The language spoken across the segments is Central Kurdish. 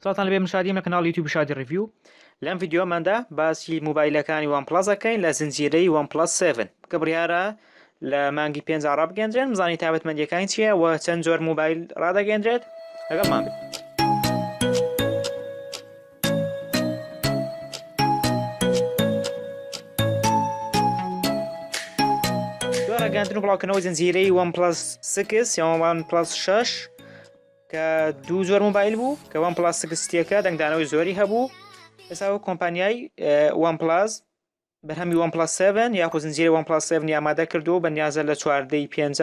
سڵاوتان لەبێ من شادیم لە کەناڵ یوتیوب شادی ڕیڤیو لەم ڤیدیۆماندا باسی موبایلەکانی وان پڵەس ئەکەین لە زنجیرەی وان پڵەس 7 کە بڕیارە لە مانگی پێنج ڕابگەندرێن بزانانی تابەتمەندیەکانی چییە و چەند جۆر موبایل ڕدەگەندرێت لەگەڵ مانگ. گەندن و بڵاوکەنەوە زنجیرەی وان پلس سکس یاوان پلس 6 کە دوو جۆر موبایل بوو کە وان پلاس سکستیەکە دەنگدانەوەی زۆری هەبوو ئێستا و کۆمپانیای وان پلاس بەرهەمی وان پلاس 7 یاخو زنجیری وان پلاس 7 ئامادە کردو بە نیازە لە چواردەی پێنج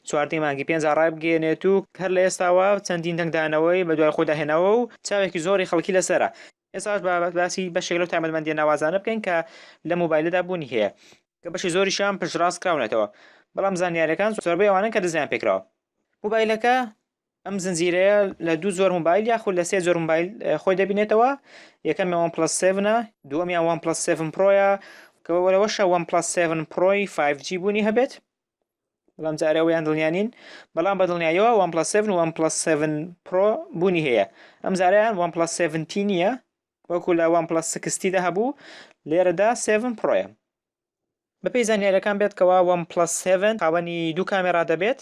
چواردەی مانگی پێنج ڕای بگەێنێت و هەر لە ئێستاوە چەندین دەنگدانەوەی بە دوای خۆدا هێناوە و چاوێکی زۆری خەڵکی لەسرە ئێستاش با باسی بەشێک لەو تایبەتمەندیە ناوازانە بکەین کە لە مۆبایلەدا بوونی هەیە کە بەشی زۆریشیان پشتڕاست کراونەتەوە بەڵام زانیارەکان زۆربەی ئەوانن کە دزیان پێکراوە مۆبایلەکە ئەم زنجیرەیە لە دوو زۆر مۆبایل یاخود لە سێ زۆر مۆبایل خۆی دەبینێتەوە یەکەم یان پلس 7 دووەمیان وان پلس 7 پرۆیە کەەوەشە وان پلس 7 پرۆی 5G بوونی هەبێت بەڵام جارێ ئەوەیان دڵنیا نین بەڵام بە دڵنیایەوە وان پلس 7 وان پلس 7 پرۆ بوونی هەیە ئەم جارەیان وان پلس 7 تی نییە وەکو لە وان پلس 60 دا هەبوو لێرەدا 7 پرۆیە بەپێی زانیاریەکان بێت کەوا وان پلس 7 خاوەنی دوو کامێرا دەبێت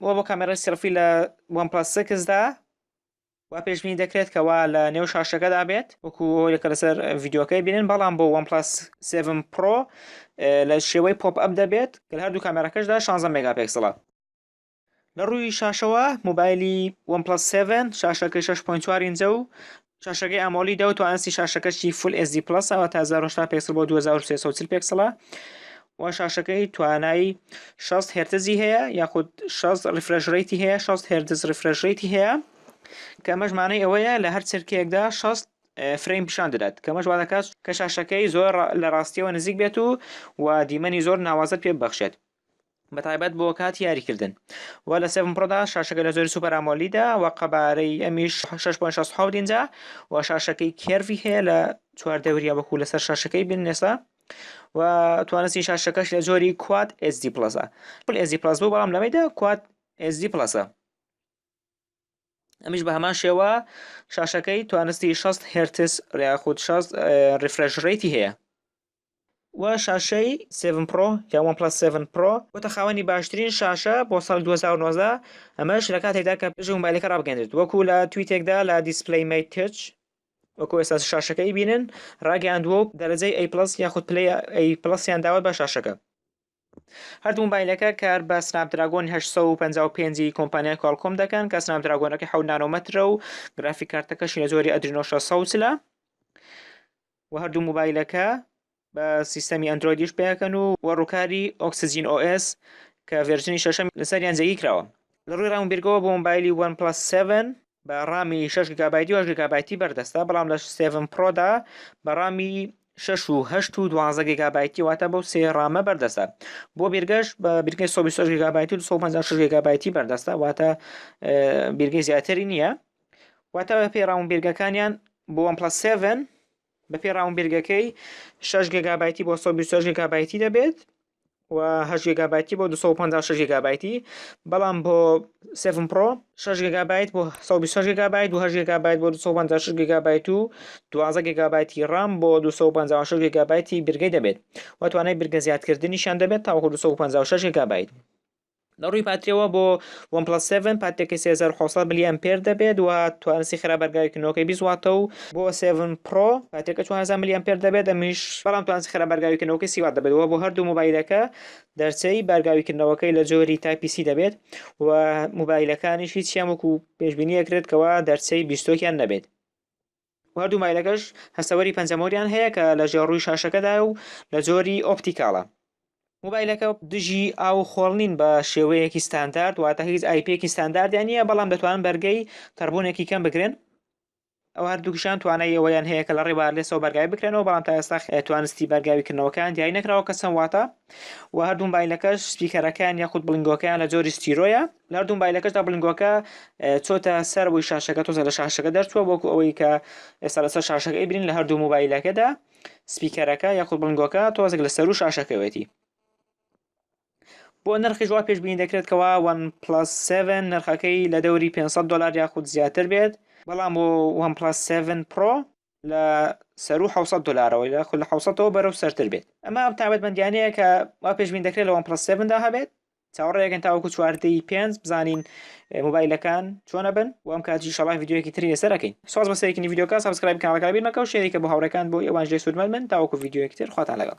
ئەوە بۆ کامێرای سێڵفی لە وان پڵەس سێکس دا وا پێشبینی دەکرێت کە وا لە نێو شاشەکەدا بێت وەکو ئەوەی کە لەسەر ڤیدیۆکەی بینن بەڵام بۆ وان پڵەس 7 پرۆ لە شێوەی پۆپ ئەپ دەبێت کە لە هەردوو کامێراکەشدا 16 مێگاپێکسڵە لە ڕووی شاشەوە موبایلی وان پڵەس 7 شاشەکەی 6.4 ئینجە و شاشەکەی ئامۆلیدە و توانستی شاشەکەشی فول ئێس دی پڵەسە واتە 1080 پێکسڵ بۆ 2340 پێکسڵە و شاشەکەی توانای 6 هێرتزی هەیە یاخود 6 ریفرش ڕیتی هەیە 6 هێرتز ریفرش ڕیتی هەیە کەمەش مانەی ئەوەیە لە هەر چرکەیەکدا 6 فرەیم پیشان دەدات کەمەش وا دەکات کە شاشەکەی زۆر لە ڕاستیەوە نزیک بێت و و دیمەنی زۆر ناوازەت پێ ببەخشێت بەتایبەت بۆ کاتی یاریکردن و لە سێڤن پڕۆدا شاشەکە لە زۆری سوپەر ئامۆلیدە و قەبارەی ئەمیش 6.67 ئینجا و شاشەکەی کێرڤی هەیە لە چوار دەوریا وەکو لەسەر شاشەکەی بین نێسا و توانستی شاشەکەش لە زۆری کوات ئێزدی پڵەسە پل ئێزی پڵەس بوو بەڵام لەمەیدا کوات ئێزدی پڵەسە ئەمیش بە هەمان شێوە شاشەکەی توانستی 6 هرتس ریاخود 6 ریفرش ڕێتی هەیە و شاشەی سێڤن پرۆ یا وەن پڵەس سێڤن پرۆ بۆتە خاوەنی باشترین شاشە بۆ ساڵی دوو هەزار و نۆزدە ئەمەش لە کاتێکدا کە پێشی مۆبایلەکە ڕابگەندرێت وەکو لە تویتێکدا لە دیسپلەی مەی تچ وەکو ئێستا شاشەکە ئەیبینن ڕاگەیاندووە و دەرەجەی ئەی پڵەس یاخود پلەی ئەی پڵەسیان داوە بە شاشەکە. هەردوو مۆبایلەکە کار بە سناپدراگۆن 855 ی کۆمپانیای کۆڵکۆم دەکەن کە سناپدراگۆنەکەی 7 نانۆمەترە و گرافیک کارتەکەشی لە جۆری ئەدرینۆ 600 لە و هەردوو مۆبایلەکە بە سیستەمی ئەندرۆیدیش پێکەن و وە ڕووکاری ئۆکسجین OS کە ڤێرژنی شەشەمی لەسەریان جێگیکراوە لە ڕووی ڕامبیرگەوە بۆ مۆبایلی وەن پلس 7 بە ڕامی شەش گیگابایتی و هەشت گیگابایتی بەردەستە بەڵام لە سێڤن پرۆدا بە ڕامی شەش و هەشت و دوانزە گیگابایتی واتە بەو سێ ڕامە بەردەستە بۆ بیرگەش بە بیرگەی سۆ بیست و هەشت گیگابایتی و دوو سەد و پەنجا و شەش گیگابایتی بەردەستە واتە ئێ، بیرگەی زیاتری نییە واتە بە پێی ڕام و بیرگەکانیان بۆ وان پڵەس سێڤن بە پێی ڕام و بیرگەکەی شەش گیگابایتی بۆ سەد و بیست و هەشت گیگابایتی دەبێت و هەشت گێگابایتی بۆ دوو سەد و پەنجا و شەش گێگابایتی بەڵام بۆ سێڤن پڕۆ شەش گێگابایت بۆ سەد و بیست و شەش گێگابایت و هەشت گێگابایت بۆ دوو سەد و پەنجا و شەش گێگابایت و دوازدە گێگابایتی ڕام بۆ دوو سەد و پەنجا و شەش گێگابایتی برگەی دەبێت و توانای برگە زیادکردنیشیان دەبێت تاوەکو دوو سەد و پەنجا و شەش گێگابایت لە ڕووی پاتریەوە بۆ وەن پڵەس سێڤن پاتریەکەی سێ هەزار و حەوت سەد ملی ئەمپێر دەبێت و توانستی خێرا بەرگاوێکی نۆکەی بیست واتە و بۆ سێڤن پڕۆ پاتریەکە چوار هەزار ملی ئەمپێر دەبێت ئەمیش بەڵام توانستی خێرا بەرگاوێکی نۆکەی سی وات دەبێت و بۆ هەردوو موبایلەکە دەرچەی بەرگاوی کردنەوەکەی لە جۆری تایپی سی دەبێت و موبایلەکانیش هیچیان وەکو پێشبینی ئەکرێت کەوا دەرچەی بیستۆکیان نەبێت و هەردوو مایلەکەش هەستەوەری پەنجەمۆریان هەیە کە لە ژێر ڕووی شاشەکەدایە و لە جۆری ئۆپتیکاڵە. مۆبایلەکە دژی ئاو و خۆڵ نین بە شێوەیەکی ستاندارد واتە هیچ ئایپیەکی ستانداردیان نییە بەڵام دەتوانن بەرگەی تەڕبوونێکی کەم بگرن ئەو هەردووکیشان توانای ئەوەیان هەیە کە لە ڕێی وایەرلێسەوە بەرگاوی بکرێنەوە بەڵام تا ئێستا توانستی بەرگاوی کردنەوەکەیان دیاری نەکراوە کە چەند واتە و هەردوو مۆبایلەکەش سپیکەرەکەیان یاخود بڵیندگۆکەیان لە جۆری ستیرۆیە ناردووم بایلەکەشدا بلنگۆکە چۆتە سەر بووی شاشەکە تۆزە لە شاشەکە دەرچووە بۆکو ئەوەی کە ئێستا لەسەر شاشەکە ئەیبرین لە هەردوو موبایلەکەدا سپیکەرەکە یاخود بلنگۆکە تۆزێک لە سەر و شاشەکەوێتی بۆ نرخی جواب پێشبینی دەکرێت کەوا وان پلس 7 نرخەکەی لە دەوری 500 دلار یاخود زیاتر بێت بەڵام بۆ وان پلس 7 پرۆ لە سەرو 600 دلارەوە لە خول لە 600ەوە بەرەو سەرتر بێت ئەمە ئەم تابەت بەندیانەیە کە وا پێشبین دەکرێت لە وان پلس 7دا هەبێت چاوەڕێکەن تاوەکو چواردەی پێنج بزانین موبایلەکان چۆنە بن و ئەم کاتی شڵای یددیوەکی تری لەسەر ئەکەین ساز بە سەرێکنی یددیوکە سبسکرایب کانەکە بیر مەکە و شێریکە بۆ هاوڕێکان بۆ ئەوان ژێ سوودمەند من تاوەکو یددیوەکی تر خواتان لەگەڵ